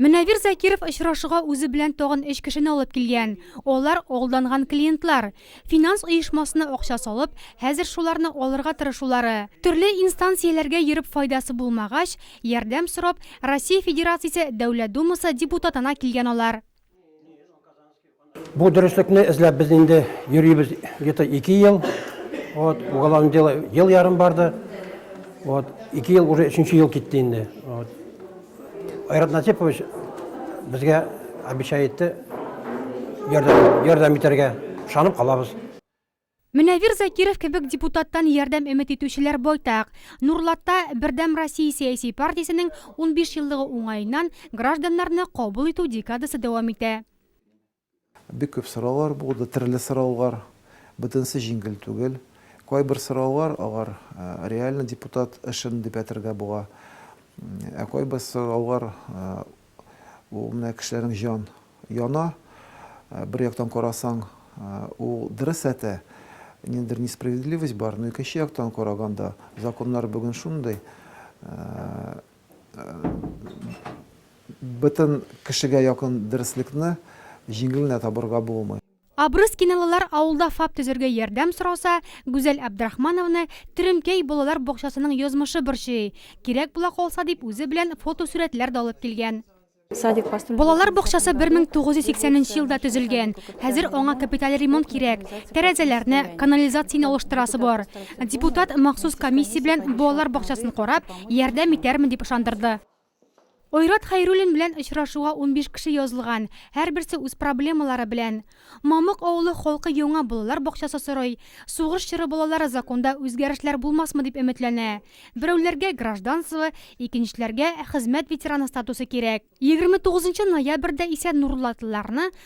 Мөнәвир Закиров очрашуга үзе белән тагын өч кешене алып килгән. Алар алданган клиентлар. Финанс оешмасына акча салып, хәзер шуларны алырга тырышулары. Төрле инстанцияләргә йөреп файдасы булмагач, ярдәм сорап, Россия Федерациясе Дәүләт Думасы депутатына килгән алар. Бу дөреслекне эзләп без инде йөрибез где-то ике ел. Вот, уголовное дело ел ярым барды. Вот, ике ел уже өченче ел китте инде. Вот. Айрат Насипович безгә обещай итте ярдәм, ярдәм итәргә. Ышанып калабыз. Мөнәвир Закиров кебек депутаттан ярдәм өмет итүчеләр байтак. Нурлатта Бердәм Россия сәяси партиясенең унбиш еллыгы уңаеннан гражданнарны кабул итү декадасы дәвам итә. Бик күп сораулар булды, төрле сораулар. Бөтенесе җиңел түгел. Кайбер сораулар алар реально депутат эшен дип әйтергә була. Ә кайбер сораулар Ул менә кешеләрнең җан яна. Бер яктан карасаң, ул дөрес әтә, ниндидер несправедливость бар, но икенче яктан караганда, законнар бүген шундый, бөтен кешегә якын дөреслекне җиңел генә табырга булмый. Абрыс киналылар авылда ФАП төзергә ярдәм сораса, Гүзәл Әбдрахмановны Теремкәй балалар бакчасының язмышы борчый, кирәк була калса дип үзе белән фотосурәтләр дә алып килгән. Балалар бакчасы 1980 нче елда төзелгән, хәзер аңа капиталь ремонт кирәк, тәрәзәләрне, канализацияне алыштырасы бар. Депутат махсус комиссия белән балалар бакчасын карап, ярдәм итәрмен дип ышандырды. Айрат Хәйруллин белән очрашуга унбиш кеше язылган, һәрберсе үз проблемалары белән. Мамык авылы халкы яңа балалар бакчасы сорый, сугыш чоры балалары законда үзгәрешләр булмасмы дип өметләнә. Берәүләргә гражданство, икенчеләргә хезмәт ветераны статусы кирәк. Егерме тугызынчы ноябрьдә исә нурлатлыларны